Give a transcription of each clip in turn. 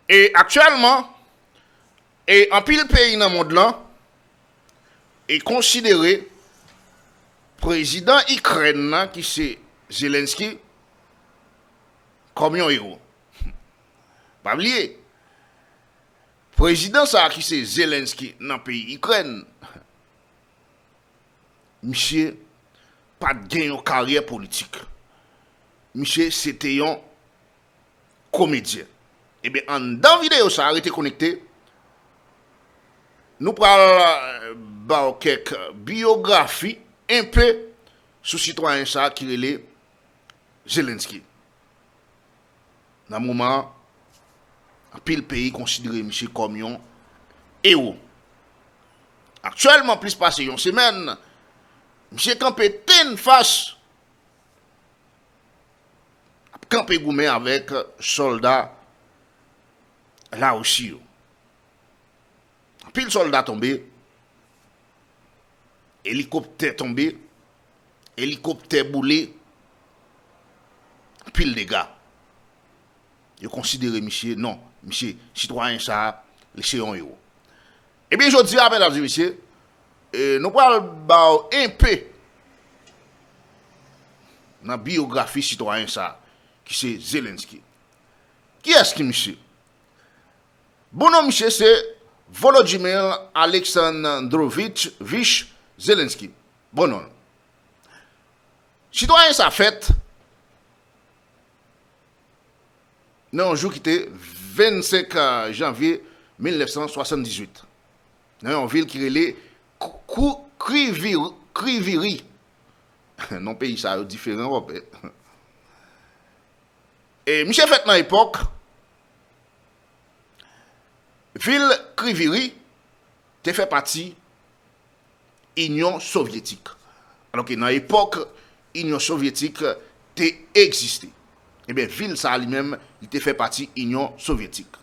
E aktyèlman, e anpil peyi nan mond lan, e konsidere prezidan Ikrèn nan ki se Zelensky kòm yon ewo. Pa bliye, prezidan sa ki se Zelensky nan peyi Ikrèn, misye pat gen yon karyè politik. Misye se te yon. komedyen Ebyen anndan videyo sa rete konekte Nou pral baw kèk biyografi enpe sou sitwayen sa ki rele Zelensky Nan moman anpil peyi konsidere misye kòm yon ewo Aktyèlman plis pase yon semèn misye kanpe tennfas ap kanpe goumen avèk sòlda Larisi yo. Anpil sòlda tonbe, elikoptè tonbe, elikoptè boule, anpil dega. Yo konsidere misye, non, misye, sitwayen sa a, li se yon ewo. Ebyen jodi a medam e mesye nou pral baw enpe nan biyografi sitwayen sa ki se Zelensky. Kiyès ki misye? Bon non misye se Volodymyr Aleksandrovich Zelensky. Bon non l. Sitwayen sa fèt nan yon jou ki te 25 janvye 1978, nan yon vil ki rele Kriviri, non peyi sa yo diferan wap wè, e misye fèt nan epòk vil Kriviri te fè pati. Inyon Sovyetik. Alò ke nan epòk Inyon Sovyetik te egziste. Ebyen vil sa a li menm li te fè pati Inyon Sovyetik.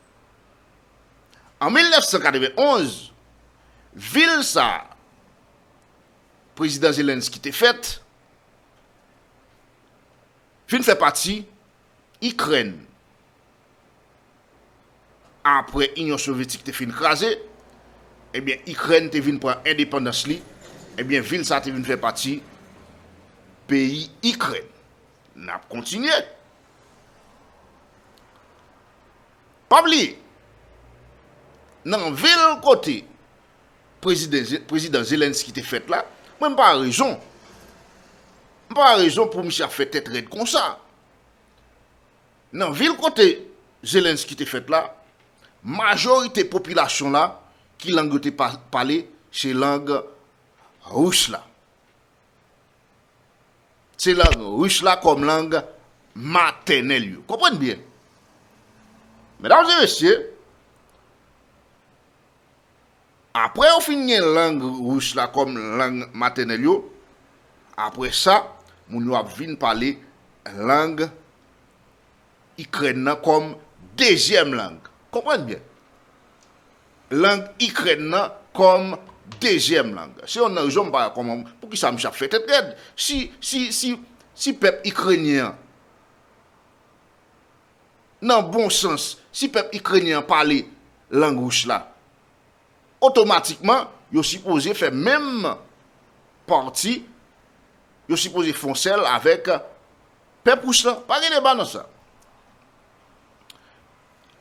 An 1991, vil sa a Prezidan Zelensky te fèt vin fè pati Ikrèn. Apre Inyon Sovyetik te fin kraze, ebyen Ikrèn te vin pran endepandans li, ebyen vil sa te vin fè pati peyi Ikrèn. N ap kontinye. Pa bliye, nan vil kote Prezidan Zelensky te fèt la, mwen m pa wè rezon, m pa wè rezon pou misye ap fè tèt rèd konsa. Nan vil kote Zelensky te fèt la, majorite popilasyon la ki lang yo te pale se lang Ris la. Se lang Ris la kòm lang matènèl yo. Konprann byen. Medam e mesye, Apre yo fin gen lang ris la kòm lang matènèl yo, apre sa, moun yo ap vin pale lang Ikrèn nan kòm dezyèm lang. Konprann byen. Lang Ikrèn nan kòm dezyèm lang. Se yonn nan rezon m pa wè kòman, poukisa misye ap fè tèt rèd. Si, si, si, si pèp Ikrenyen an Nan bon sans, si pèp Ikrenyen an pale lang Rus la, otomatikman yo sipoze fè menm pati, yo sipoze fon sèl avèk pèp Rus la. Pa gen deba nan sa.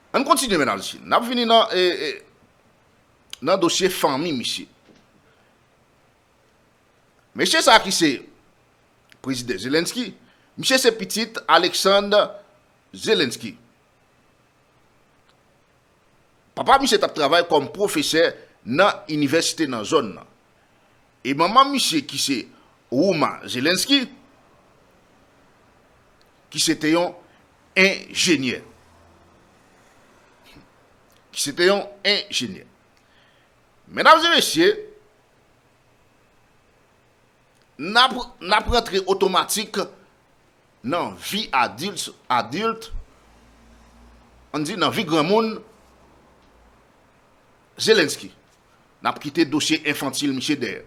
Ann kontinye men al si. Nap vini nan dosye fanmi misye. Mesye sa ki se Prezidan Zelensky, misye se pitit Alexand Zelensky. Papa misye tap travay kòm pwofesè nan inivèsite nan zòn nan. E manman misye ki se Rouma Zelensky, ki se te yon enjenyè. Ki se te yon enjenyè. Medam e mesye, nap rantre otomatik nan vi adilt, an di nan vi granmoun Zelensky. Nap kite dosye enfantil misye dèyè.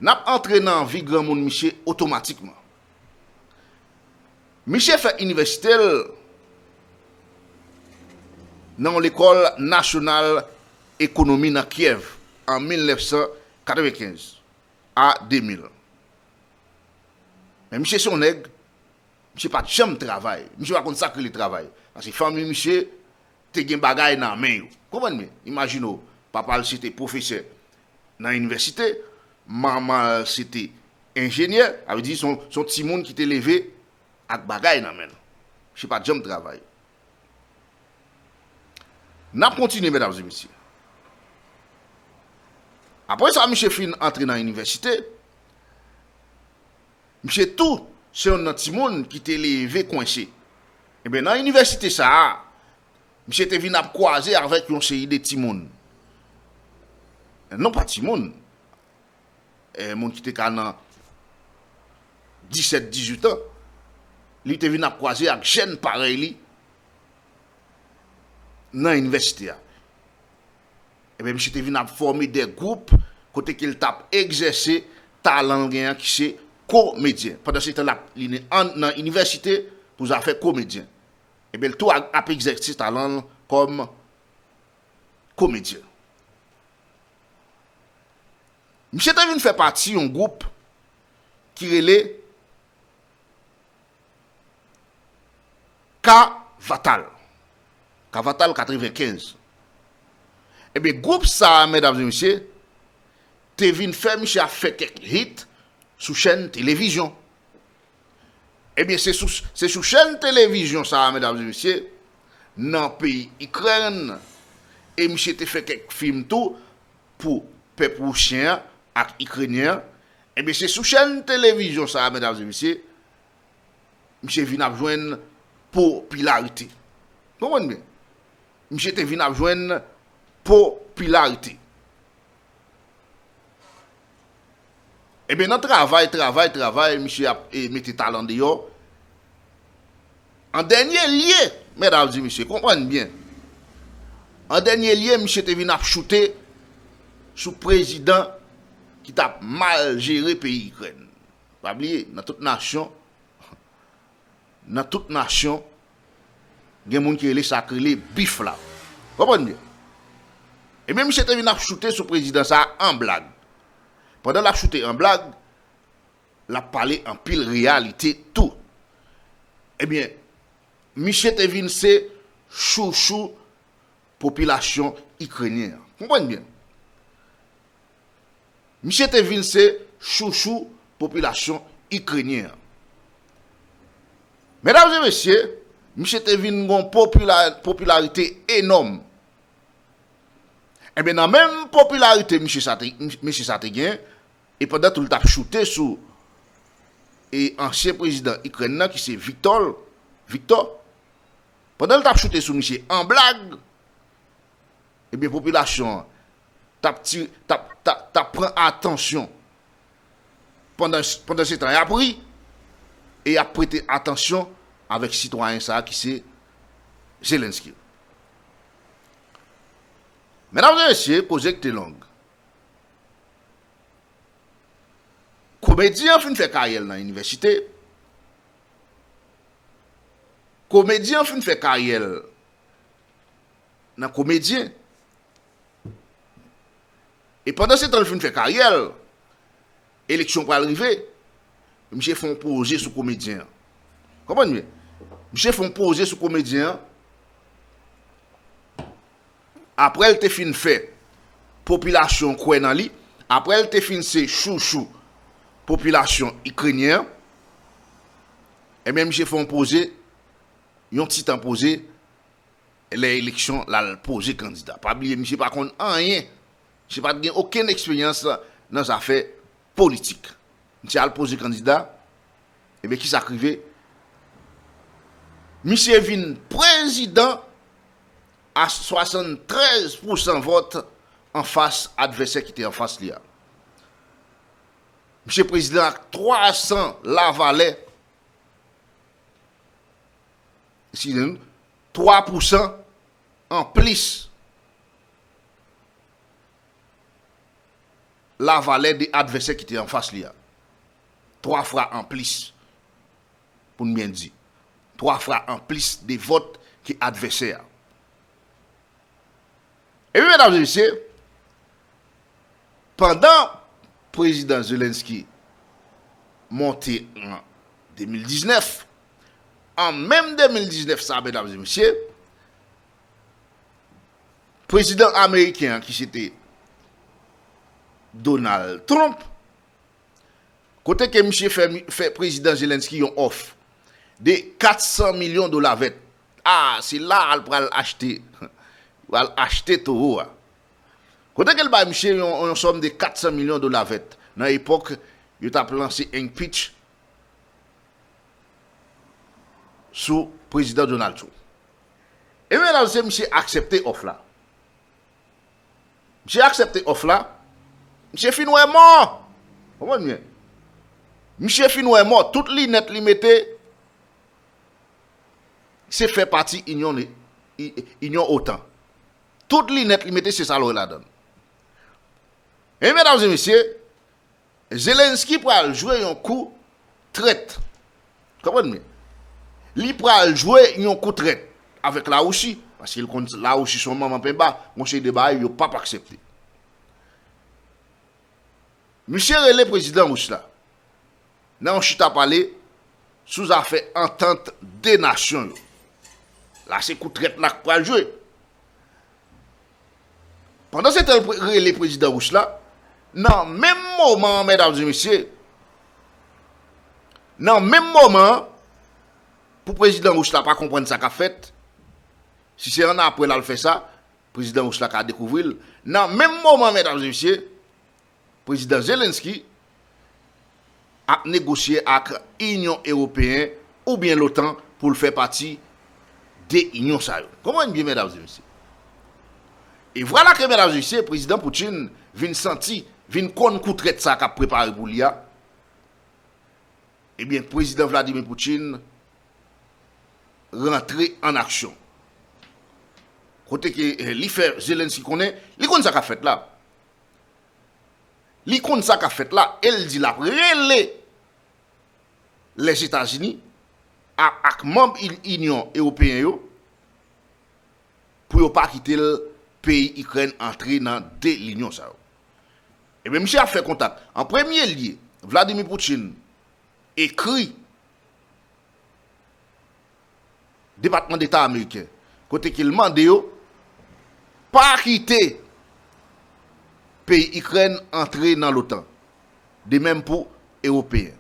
Nap antre nan vi granmoun misye otomatikman. Miche fè inivèsite l nan yon lekòl nasyonal ekonomi nan Kyèv an 1995 a 2000. Men miche se yon nèg, miche pat janm travay, miche pa konn sak rele travay. Paske fanmi miche te gen bagay nan men yo. Konprann byen, imajine w, papa l se te pwofesè, nan inivèsite, manman l se te enjenyè, sa vle di se yon timoun ki te leve ak bagay nan men l, misye pa t janm travay. N ap kontinye medam e mesye. Apre sa misye fin antre nan inivèsite, misye tou se yon nan timoun ki te leve kwense. Enben nan inivèsite sa a, Misye te vin ap kwaze avèk yon seri de timoun. Non pa timoun. Moun ki te ka nan 17, 18 an. Li te vin ap kwaze ak jèn parèy li nan inivèsite a. Ebyen misye te vin ap fòme de gwoup kote ke li t ap egzèse talan l gen an ki se komedyen. Pandan se tan l ap li nan inivèsite pou zafè komedyen. Ebyen l tou ap egzèse talan l kòm komedyen. Misye te vin fè pati yon gwoup ki rele Ka Vatal, Ka Vatal 95. Ebyen gwoup sa a medam e mesye te vin fè misye ap fè kèk hit sou chèn televizyon. Ebyen se sou se sou chèn televizyon sa a medam e mesye nan peyi Ikrèn e misye te fè kèk fim tou pou pèp wousyen an ak ikrenyen an ebyen se sou chèn televizyon sa a medam e mesye misye vin ap jwenn popilarite. Konprann byen. Misye te vin ap jwenn popilarite. Ebyen nan travay travay travay misye ap mete talan deyò an dènye lye mèdam di mesye konprann byen an dènye lye misye te vin ap choute sou prezidan ki tap mal jere peyi ikrèn pa bliye nan tout nasyon Nan tout nasyon gen moun ki rele sak rele bif la. Konprann byen. Ebyen misye te vin ap choute sou prezidan sa an blag. Pandan lap choute an blag, lap pale anpil reyalite tou. Ebyen misye te vin se chouchou popilasyon ikrenyen an. Konprann byen. Misye te vin se chouchou popilasyon Ikrenyen an. Medam e mesye, misye te vin gon popilarite enòm. Enben nan menm popilarite misye sa te, mesye sa te gen, e pandan tou li t ap choute sou e ansyen prezidan Ikrèn nan ki se Viktòl, Viktò, pandan li t ap choute sou misye an blag, Ebyen popilasyon an tap tire tap ta tap pran atansyon pandan pandan se tan yap ri e yap prete atansyon avèk sitwayen sa ki se Zelensky la. Medam e mesye koze kte long. Komedyen an fin fè karyèl nan inivèsite, komedyen an fin fè karyèl. nan komedyen e pandan se tan li fin fè karyè l eleksyon pral rive misye fon poze sou komedyen an konprann byen misye fon poze sou komedyen an aprè l te fin fè popilasyon kwè nan li aprè l te fin se chouchou popilasyon ikrenyen an ebyen misye fon poze yon ti tan poze lè eleksyon lal poze kandida pa bliye misye pa konn anyen misye pat gen okenn eksperyans nan zafè politik misye al poze kandida ebyen kisak rive misye vin prezidan a 73 pousan vòt anfas advèsè kite anfas li a misye prezidan ak 300 lavalè. Eskize-n, 3 pousan an plis la valè de advèsè ki te an fas li a. 3 fra an plis, pou-n byen di. 3 fra an plis de vòt ke advèsè a. Epi, medam e mesye, pandan Prezidan Zelensky monte an 2019, An menm 2019 sa medam e mesye, prezidan ameriken an ki se te Donald Trump, kote ke misye fè prezidan Zelensky yon òf de 400 milyon dola vèt. A, se la a l pral achte, pral achte towo a. Kote ke l bay misye yon sòm de 400 milyon dola vèt nan epòk yo t ap lanse enpich sou Prezidan Donald Trump. Ebyen la se misye aksepte òf la. Misye aksepte òf la, misye fin wè mò! Konprann byen. Misye fin wè mò, tout linèt li mete se fè pati inyon inyon otan. Tout linèt li mete se sa l wè ladan l. Ebyen medam e mesye, Zelensky pral jwe yon kou trèt konprann byen li pral jwe yon kou trèt avèk la Russi paske li konn la Russi son manman penba yon seri de bagay yo pap aksepte misye rele prezidan Russe la nan yon chita pale sou zafè antant 2 nasyon yo la se kou trèt la k pral jwe. Pandan se tan yo rele prezidan Ris la, nan menm moman an medam e mesye, nan menm moman an, pou prezidan Ris la pa konprann sa k ap fèt, si se annapre l al fè sa, prezidan Ris la ka dekouvri l, nan menm moman an medam e mesye, Prezidan Zelensky ap negosye ak Inyon Ewopeyen oubyen l'OTAN pou l fè pati de inyon sa yo. Konprann byen medam e mesye. E vwala ke medam e mesye, Prezidan Putin vin santi, vin konn kou trèt sa kap prepare pou li a, ebyen Prezidan Vladimir Putin rantre an aksyon. Kote ke li fè Zelensky konnen, li konn sa kap fèt la. Li konn sa kap fèt la e l di lap rele Lèzetazini ak manb Inyon Ewopeyen yo pou yo pa kite l peyi Ikrèn antre nan 2 linyon sa yo. Ebyen misye ap fè kontak. An premye lye, Vladimir Putin ekri Depatman Deta Ameriken kote ke l mande yo pa kite peyi Ikrèn antre nan l'OTAN, de mèm pou Ewopeyen.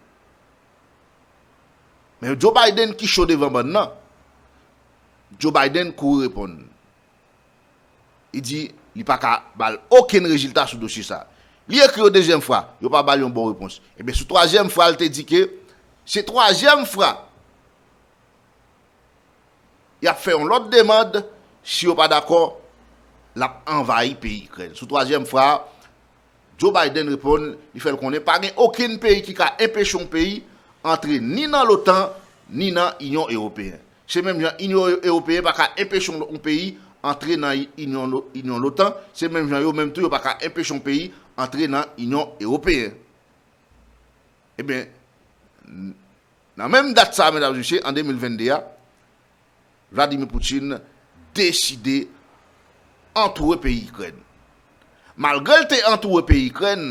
Men Joe Biden ki cho devan bann nan, Joe Biden kouri reponn. Li di li pa ka ba l okenn rezilta sou dosye sa. Li ekri yon dezyèm fwa, yo pa ba l yon bon repons. Ebyen sou twazyèm fwa l te di ke se twazyèm fwa Y ap fè yon lòt demand, si yo pa dakò, l ap anvayi peyi Ikrèn. Sou twazyèm fra a, Joe Biden reponn, li fè l konnen pa gen okenn peyi ki ka enpeche yon peyi antre ni nan l'OTAN ni nan Inyon Ewopeyen. Se menm jan Inyon Ewopeyen pa ka enpeche yon peyi antre nan Inyon l'OTAN, se menm jan yo menm tou yo pa ka enpeche yon peyi antre nan Inyon Ewopeyen. Eben. Nan menm dat sa a medam e mesye, an 2022 a, Vladimir Putin deside antoure peyi Ikrèn. Malgre l te antoure peyi Ikrèn,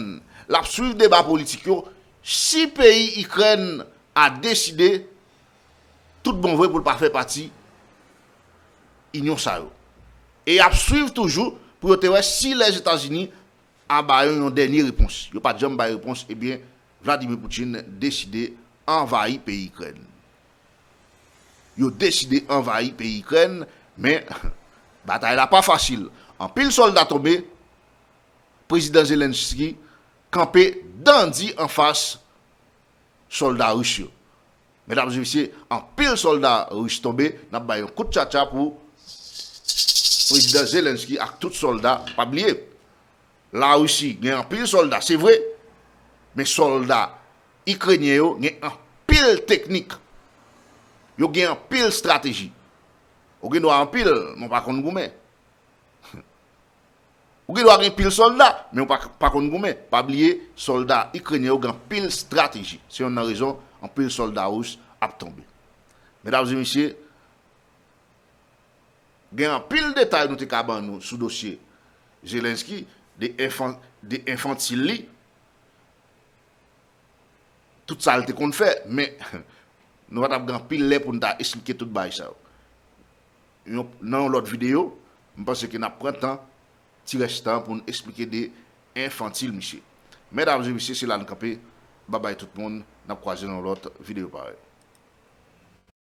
l ap swiv deba politik yo si peyi Ikrèn a deside tout bon vre pou l pa fè pati inyon sa yo. E y ap swiv toujou pou yo te wè si Lèzetazini a ba yo yon dènye repons. Yo pa t janm bay repons, ebyen Vladimir Putin deside anvayi peyi Ikrèn. Yo deside anvayi peyi Ikrèn, men batay la pa fasil. Anpil sòlda tonbe, Prezidan Zelenskyy kanpe dan di anfas sòlda Ris yo. Medam e mesye, anpil sòlda Ris tonbe, n ap bay yon kout tchatcha pou Prezidan Zelenskyy ak tout sòlda, pa bliye. La Risi gen anpil solda se vre, men solda Ikrenyen yo gen anpil teknik, yo gen anpil strateji. Ou gen dwa anpil, men ou pa konn goumen. Ou gen dwa gen pil solda, men ou pa konn goumen. Pa bliye, solda Ikrenyen yo gen anpil strateji. Se yonn nan rezon anpil solda Ris ap tonbe. Medam e mesye, Gen anpil detay nou te ka ban nou sou dosye Zelensky, de enfantil li, tout sa l te konn fè, men nou pa t ap gen anpil lè pou nou ta esplike tout bagay sa yo. Nan yon lòt videyo, m panse ke n ap pran tan, ti rès tan pou nou esplike de enfantil misye. Medam e mesye, se la nou kanpe. Babay tout moun, n ap kwaze nan yon lòt videyo parèy.